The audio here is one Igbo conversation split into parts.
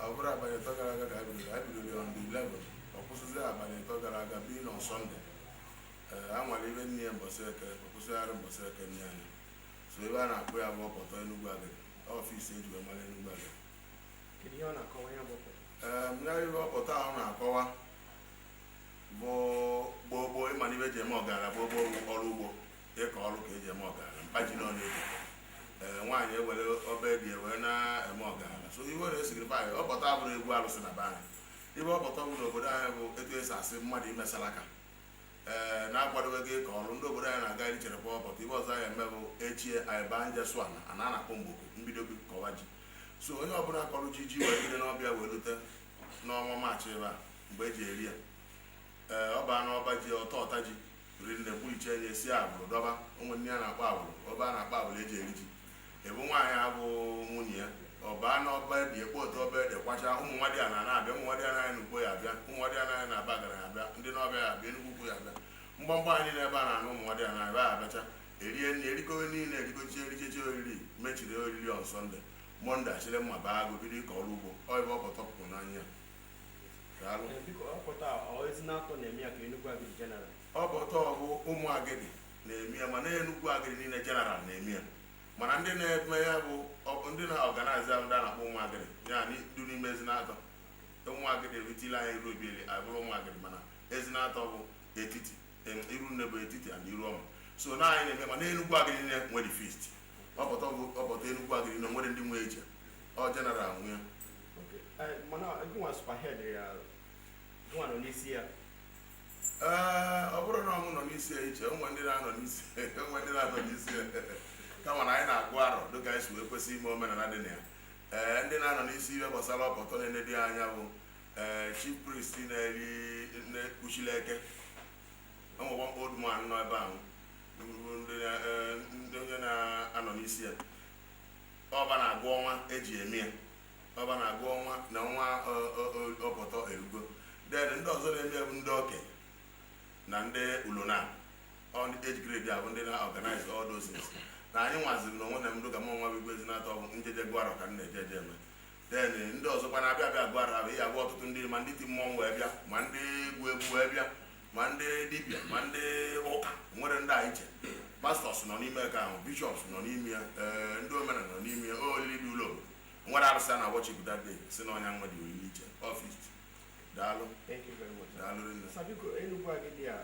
ọ bụrụ abalị ịtọ gara aga ka a bidoro a bidoro on the 11 ọ kwụsịzi abalị ịtọ gara aga bụ na sọnde ee a nwara ibe nne ya mbọsị eke ọ kwụsịgharị mbọsị eke nna anyị so ife a na-akpọ ya bụ ọpọtọ enugwu agịdị ọ feast eji wee mara enugwu agịdị kedu ihe ọ na-akọwa ya bụ ọpọtọ ee mmegharị ife ọpọtọ ahụ na-akọwa bụ gboo gboo ị mana ife eji eme ọgaranya gboo gboo bụ ọrụ ugbo ịkọ ọrụ ka eji eme ọgaranya mkpa ji na ọnụ ego ee nwaanyị ewere ọba ede ya wee na-eme ọgaranya so iwe na esigiri be anyị ọpọtọ abụrọ ịgọ alụsị na be anyị ife ọpọtọ bụ n'obodo anyị bụ etu esi asị mmadụ imesara aka ee na-akwadobezi ịkọ ọrụ ndị obodo anyị na-aga iri chere kwa ọpọtọ ife ọzọ anyị eme bụ echi anyị banye sụọ ana ana a na-akpọ mgboko ebido ịkọwa ji so onye ọbụla kọrọ ji ji wee bido nọvemba wee rute n'ọnwa maachị ebe a mgbe eji eri ya ee ọ baa n'ọba ji ọta ọta ji rinne kpulichie nye si agbụrụ dọba o nwe ife a na-akpọ agbụrụ ọba a na-akpọ agbụrụ eji eri ji ebe nwaanyị abụ nwunye ya ọ baa na ọba ede ekpo otu ọba ede kwacha ụmụ nwadịana na-abịa ụmụ nwadịana anyị nọ ukpo ya abịa ụmụ nwadịana anyị nọ abagana ya abịa ndị nawfia ya abịa enugwu ukwu ya abịa mgbamgba anyị na ebe a na-anụ ụmụ nwadịana anyị ebe a abịacha erie nri erikowe niile erikochie erichechi oriri mechie oriri on sọnde mọnde achịrị mma baa agụ bido ịkọ ọrụ ugbo ọ ife ọpọtọ bụrụ n'anya ọpọtọ bụ ụmụ agịdị na-eme ya mana enugwu agịdị niile jeneral na-eme ya mana ndị na-eme ya bụ ndị na-organize ya bụ ndị a na-akpọ ụmụ agịdị ya na idu n'ime ezinatọ ụmụ agịdị erutela anyị iruobieli abụrụ ụmụ agịdị mana ezinatọ bụ etiti irunnebo etiti na iruọma so na anyị na-eme mana enugwu agịdị niile nwere feast ọpọtọ enugwu agịdị niile nwere ndị nwe eji ọ jeneral nwe ya Okay. Eh, mana gịnwa sokwa head ya gịnwa nọ n'isi ya ee ọ bụrọ na ọ mụ nọ n'isi ya iche o nwe ndị na-anọ n'isi o nwe ndị na-anọ n'isi ya kama na anyị na-agụ arọ dịka anyị si wee kwesị ime omenala dị na ya ee ndị na-anọ n'isi ihe gbasara ọpọtọ na-enedi anya bụ ee chief priest na-eri na-ekpuchila eke enwekwa mkpa old man nọ ebe ahụ bụ ndị na- eh, ndị onye na-anọ n'isi ya ọ fa na-agụ ọnwa eji eme ya ọ fa na-agụ ọnwa na ọnwa ọpọtọ erugo then ndị ọzọ na-eme ya bụ ndị oke na ndị ulona or ndị age grade a bụ ndị na-organize all those things na anyị nwaziri na onwe m dịka mụnwa bụ igwe ezinatọ ọ bụ njeje gụara ka m na-eje eje eme then ndị ọzọkwa na-abịa abịa gụara abụ ihe abụ ọtụtụ ndị ma ndị ti mmọnwụ wee bịa ma ndị egwu egwu wee bịa ma ndị dibia ma ndị ụka nwere ndị anyị che pastors nọ n'ime ka ahụ bishops nọ n'ime ya ee ndị omenala nọ n'ime ya olili dị ụlọ obodo nwere arụsị a na-worship that day si na ọnya nwa dị olili iche ọfis daalụ daalụ rinne sir biko enugwu agidi a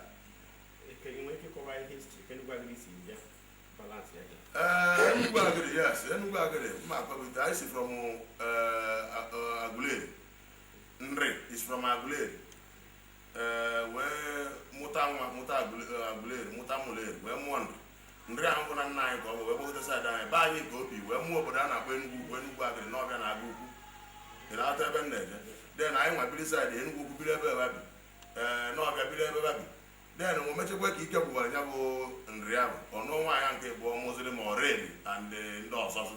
i nwere ike kọwa ihe history ka enugwu agidi si bịa balance ya ee enugwu agidi yes enugwu agidi mma akpabite anyị si from agụleri nri is from agụleri ee wee mụta nwa mụta agụleri mụta ụmụleri wee mụọ nri nri ahụ bụ nna anyị ka ọ bụ wee gbagote side anyị be anyị ka o bi wee mụọ obodo a na-akpọ Enugu Ukwu Enugu Agidi Nawfia na Agụkwu dị na ata ebe m na-eje then anyị nwa biri side Enugu Ukwu biri ebe babi ee Nawfia biri ebe babi then o mechekwa ka ike gwụwara ya bụ nri ahụ ọ nụọ nwaanyị nke bụ mụziri ma ọrịa and ndị ọzọzụ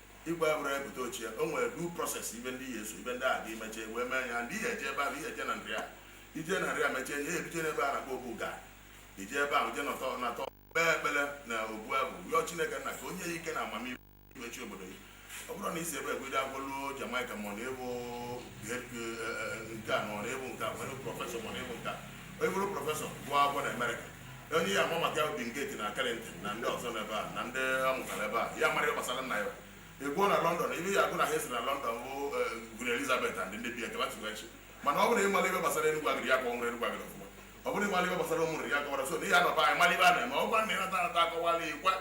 igwe abụrụ ebute ochie o nwere due process ibe ndị ya eso ibe ndị a dị meche wee mee ya ndị ihe eje ebe ahụ ihe eje na Nri a ije na Nri a mechie ihe ebije n'ebe a na-akpọ Obu Gad eje ebe ahụ je nọtọ natọ kpee ekpere na obu ahụ rịọ chineke nna ka o nye ya ike na amamihe imechi obodo ya ọ bụrụ na isi ebe egwede agwọluo Jamaica ma ọ na-ewu nke a ma ọ na-ewu nke a nwere professor ma ọ na-ewu nke a onye bụrụ professor gụọ akwụkwọ na America onye ya ama maka obi nke na Carrington na ndị ọzọ n'ebe a na ndị a mụtara ebe a ya mara ihe gbasara nna ya egbuo na London ibe ya agụ na ha esi na London bụ Queen Elizabeth and ndị bi ekebe tụghachi mana ọ bụrụ ị mara ibe gbasara Enugu Agidi ya ka ọ nwere Enugu Agidi ọfụma ọ bụrụ ị mara ibe gbasara ụmụrụ ya kọwara so na ihe anọba anyị mara ibe a na-eme ọgwa na ịnata anata akọwala ikwa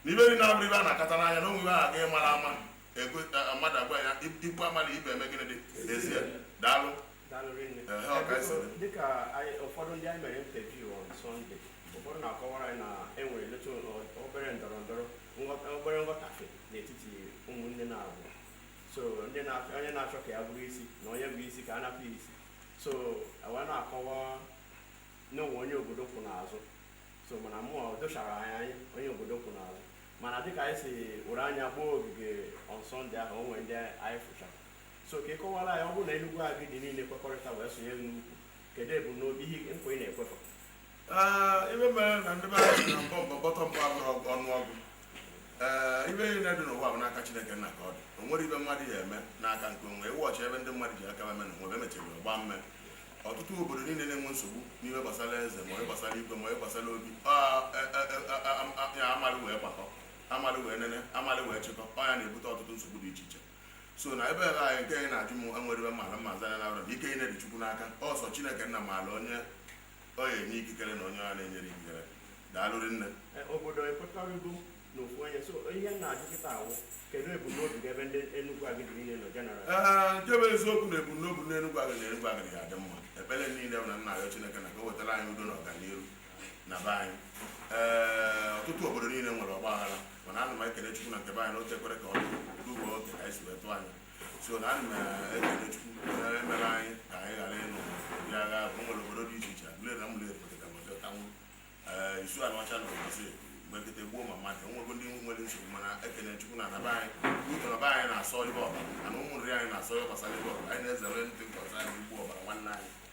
na ibe dị na-abụrụ ibe a na-akpata n'anya na onwe ibe ahụ ga-ịmara ama mmadụ agwa ya ikwu amala ibe eme gịnị dị ezie daalụ dịka ụfọdụ ndị anyị mere interview on Sunday ụfọdụ na-akọwara anyị na e nweretụ obere ndọrọ ndọrọ obere nghọtafie n'etiti ụmụnne naabọ so onye na-achọ ka ya bụrụ isi na onye bụ isi ka a napụ isi so wee na-akọwa na o nwe onye obodo kwụ n'azụ so mana mụ dochara anyị anya onye obodo kwụ n'azụ mana dịka anyị si were anya gbaa ogige on Sunday ahụ o nwere ndị anyị fụchara so ka ị kọwara anyị ọ bụrụ na Enugu Agidi niile kwekọrịta wee sonye gị n'ụkwụ kedu ebumnobi ihe nkwa ị na-ekwe ha Ee, ibe mere na ndị be anyị si na mbọ mbọ bọtọ mbọ abụrụ ọgụ- ọnụọgụ ee ibe niile dị n'ụwa bụ n'aka chineke nna ka ọ dị o nwerọ ibe mmadụ ya eme n'aka nke onwe ya ị watch ibe ndị mmadụ ji aka eme na onwe emechiri ọ gbaa mmee ọtụtụ obodo niile na-enwe nsogbu n'ibe gbasara eze ma onye gbasara igwe ma onye gbasara obi ọ, e, e, e, a- a- a- ya amalị wee gbakọ amalị wee nene amalị wee chịkọ ọ ya na-ebute ọtụtụ nsogbu dị iche iche so na ebe ebe anyị nke anyị na-ajụ m enwere ive mara mma azanya na abụrụ ike niine dị chukwu n'aka ọ sọ chineke nna maalụ onye ọ ya-enye ikikere na onye ọ na-enyere ikikere daalụ rinne e, obodo ekwekọrịgo na ofu onye so ihe m na-ajụ kịta a bụ kedu ebumnobi gị ebe ndị Enugwu Agịdị niile nọ general ee nke bụ eziokwu na ebumnobi na Enugwu Agịdị Enugwu Agịdị ga-adị mma ekpere niile bụ na m na-ayọ chineke nna ka o wetara anyị udo na ọganihu na be anyị ee ọtụtụ obodo niile nwere ọgba aghara mana ana m ekele chukwu na nke be anyị na o tekwere ka ọ dị ugbo oge ka anyị si wee tụọ anya so na ana m ekele chukwu onye mere anyị ka anyị ghara ịnụ ndị agha bụ nwere obodo dị iche iche Aguleri na Ụmụleri pụtara tanwụ ee Isu Anịọcha na Ọmasị mgbe nkịta gbuo ma mmadụ enwego ndị nwere nsogbu mana ekele chukwu na na be anyị ụtọ na be anyị na-asọ ive ọbara na Ụmụ Nri anyị na-asọ ive gbasara ive ọbara anyị na-ezere ndị nkọta anyị igbu ọbara nwanne anyị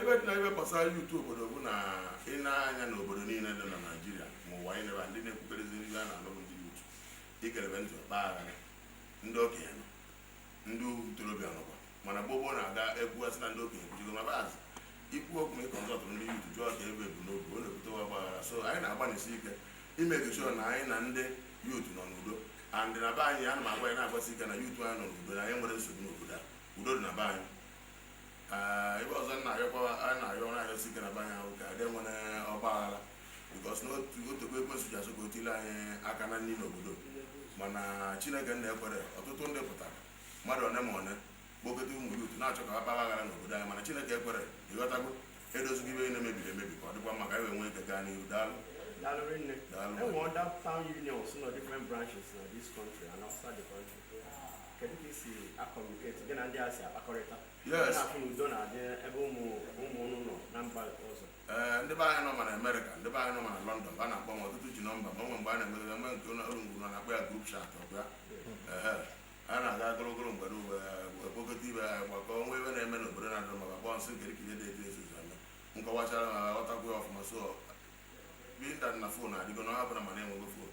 ive dị na ive gbasara youth obodo bụ na i nee anya n'obodo niile dị na Nigeria ma ụwa anyị nebe ndị na-ekwuterezi ndị a na-alụ ndị youth ikelebe ntị ọgba aghara ndị okenye nọ ndị ntorobịa nọkwa mana gbogbo na-aga ekwugasị na ndị okenye kwuchigo ma baazị ikwu okwu ịkọ nzọtụ ndị youth jụọ ka ebe bụ n'obi ọ na-ebute wa gbaghara so anyị na-agbanisi ike ị make sure na anyị na ndị youth nọ n'udo and na be anyị ana m agwa anyị na-agbasi ike na youth anyị nọ n'udo na anyị enwerọ nsogbu n'obodo a udo dị na be anyị ive ọzọ m na-ayọkwa a na-ayọ ọrụ ayọ site na banya ahụ ka adị nwere ọgba aghara because na o tego ekwensu ji achọ ka o tile anyị aka na nri n'obodo mana chineke nna ekwere ọtụtụ ndị pụtara mmadụ one ma one kpokọta ụmụ youth na-achọ ka ha kpara aghara n'obodo anyị mana chineke ekwere ị ghọtago e dozigo ive niine mebiri emebi ka ọ dịkwa mma ka anyị wee nwee ike gaa n'ihu daalụ Daalụ rinne. Daalụ. E nwee other town unions nọ different branches na this country and outside the country. ee ndị be anyị nọ ma na America ndị be anyị nọ ma na London va na-akpọ m ọtụtụ ji number m o nwee mgbe a na-emere eme nke ụlọ ọrụ ngwuru na-akpọ ya group chat ọbịa ee a na-aga ogologo mgbe n'uwe ekpokọta ibe ya gbakọ o nwee ive na-eme n'obodo na-adịrọ mma a kpọọ m sị nke dịkide dị etu ezuzu eme m kọwachara ha ghọtakwu ya ọfụma so binta na phone adịgo na ọ hapụrụ mana enwego phone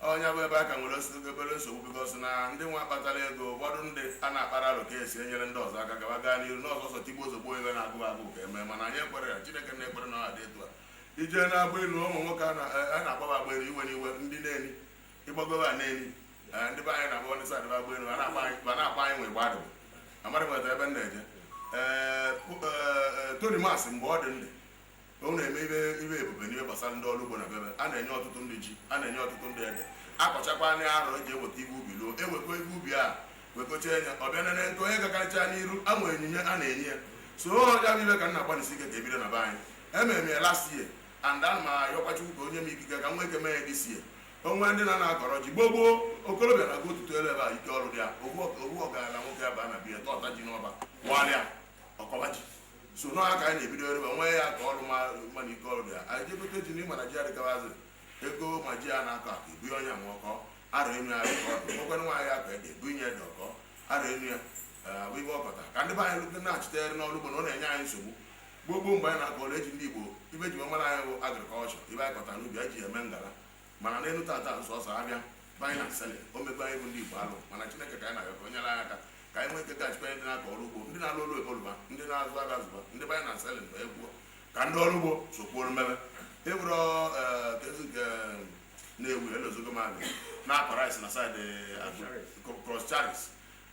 onye bụ ebe a ka nwere osite obere nsogbu because na ndị nwa kpatara ego ụfọdụ ndị a na-akpara alụ ka esi enyere ndị ọzọ aka gaba gaa n'iru n'ọzọ ọsọ tigbuo zọgbuo iwe na-agụ agụ ka eme mana anyị ekwere ya chineke na-ekwere na ọ dị etu a ije na-agba elu ụmụ nwoke a na-agbaba agba elu iwe n'iwe ndị na-eni ịgbagoba a na-eni ndị be anyị na-agba ndị sadịba agba elu ma na-akpa anyị nwe gbadụ amara nweta ebe m na-eje ee Tonimas mgbe ọ dị ndị unu eme ife ife ebube n'ihe gbasara ndị ọrụ ugbo na bebe a na-enye ọtụtụ ndị ji a na-enye ọtụtụ ndị ede akọchakwa ndị arọ eji eweta ife ubi ruo ewekwa ife ubi a wekocha enya ọbịa nene nke onye gakarịcha n'iru ama onyinye a na-enye ya so ya bụ ife ka m na-agbanisi ike ka ebido na be anyị emere m ya last year and ana m ayọkwa Chukwu ka o nye m ikike ka m nwee ike mee ya this year o nwe ndị na na-akọrọ ji gboo gboo okorobịa na-aga ụtụtụ elu ebe a ike ọrụ dị ya owu ọgaranya nwoke ebe a na be ya tọta ji n'ọba walịa ọ kọba ji so nọ aka anyị na-ebido ebe nwe ya ka ọrụ ma mmadụ ike ọrụ ya anyị jee gote ji n'ịma na ji adịgabazi ego ma ji a na-akọ akọ ebu onye nwe ọkọ ara enu ya ka ọdụ nwekwana nwaanyị akọ ede ebu inye dị ọkọ ara enu ya bụ ife ọ kọta ka ndị be anyị lụte na-achịtere n'ọrụ ugbo na ọ na-enye anyị nsogbu gboo gboo mgbe anyị na-akọ ọrụ eji ndị igbo ife eji wee mara anyị bụ agriculture ife anyị kọta n'ubi anyị ji eme ngala mana n'elu tata sọsọ afịa buying and selling o mekwa anyị bụ ndị igbo alụ mana chineke ka anyị na-arịọ ka o nyere anyị aka ka anyị nwee ike gachikwa ndị na-akọ ọrụ ugbo ndị na-alụ ọlụ oyibo lụba ndị na-azụ afịa zụba ndị buying and selling mgbe egwuo ka ndị ọrụ ugbo sokwuoro mmebe ewuro kezi nke na-ewu elozogo mmadụ na-akọ rice na side Coscharis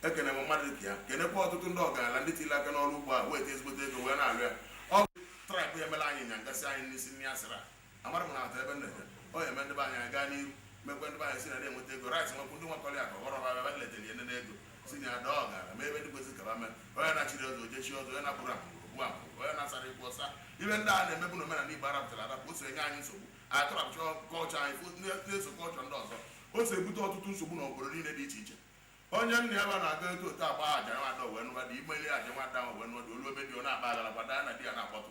ekene m mmadụ dịka ya kenekwa ọtụtụ ndị ọgaranya ndị tiri aka n'ọrụ ugbo a weta ezigbote ego wee na-alụ ya ọ bụ traịbụ emela anyị nya ngasị anyị n'isi nri asịra agbara m na-ata ebe nleje ọ ya eme ndị be anyị aga n'ihu mekwe ndị be anyị si na na-enweta ego rit nwekwu ndị nwakọrọ ya ka ọghọrọ ha ebe nleje na enene ego si na ya dọọ ọgara ma ebe ndị kwesị kaba mee onye na-echiri ọzọ o je chie ọzọ onye na-abụrụ abụrụ ogbu abụrụ onye na-asara ikwu ọsa ife ndị a na-emebu na omenala igbo arapụtara arapụ o so enye anyị nsogbu atụrapụcha culture anyị fụ- na- na-eso culture ndị ọzọ o so ebute ọtụtụ nsogbu na obodo niile dị iche iche onye nna ya ba na-aga eto otu agba aja nwa ada wee nụwa di imeli aja nwa ada ahụ wee nụwa di o lue be di ọ na-akpa aghara kwada ya na di ya na-akpọtụ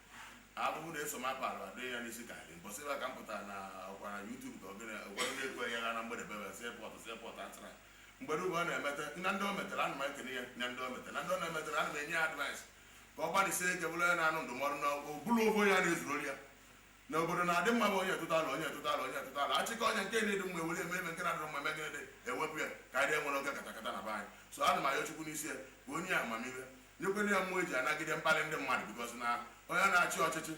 abụbụ na-eso m akpa alụ adịghị ya n'isi ka anyị mbọsị ebe a ka m pụtara na ọkwa na YouTube ka ogene ụfọdụ na-ekwe ya na mgbede bebe si epọtụ si epọtụ atara mgbede ugbu ọ na-emete na ndị o metere ana m ekene ya na ndị o metere na ndị ọ na-emetere ana m enye ya advice ka ọ gbalịsie ike bụrụ onye na-anụ ndụmọdụ na ọ bụrụ ofu onye a na-ezurori ya na obodo na-adị mma bụ onye tụta alo onye tụta alo onye tụta alo achịkọ onye nke na-adị mma ewere eme eme nke na-adịrọ mma eme gịnị dị ewepụ ya ka anyị enwere oge katakata na be anyị so ana m ayọ chukwu n'isi ya ka o nye ya amamihe nyekwena ya mmụọ eji anagide mkpali ndị mmadụ because na onye na-achị ọchịchị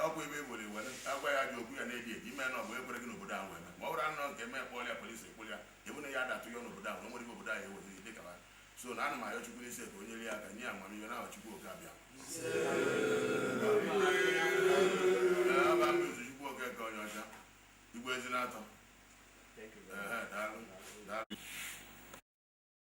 ọkwa ebe iwere iwere agwa ya ajọ okwu ya na-ebi ebi ime na ọ bụ ekwere gị n'obodo ahụ eme ma ọ bụrụ anọ nke eme kpọlịa police ekpụlị ya ebu na ya adatụ ya n'obodo ahụ na nwere ife obodo ahụ ewetara dị ka so na ana m ayọ chukwu n'isi ka o nyere ya aka nye amamihe n'aha chukwu oke abịa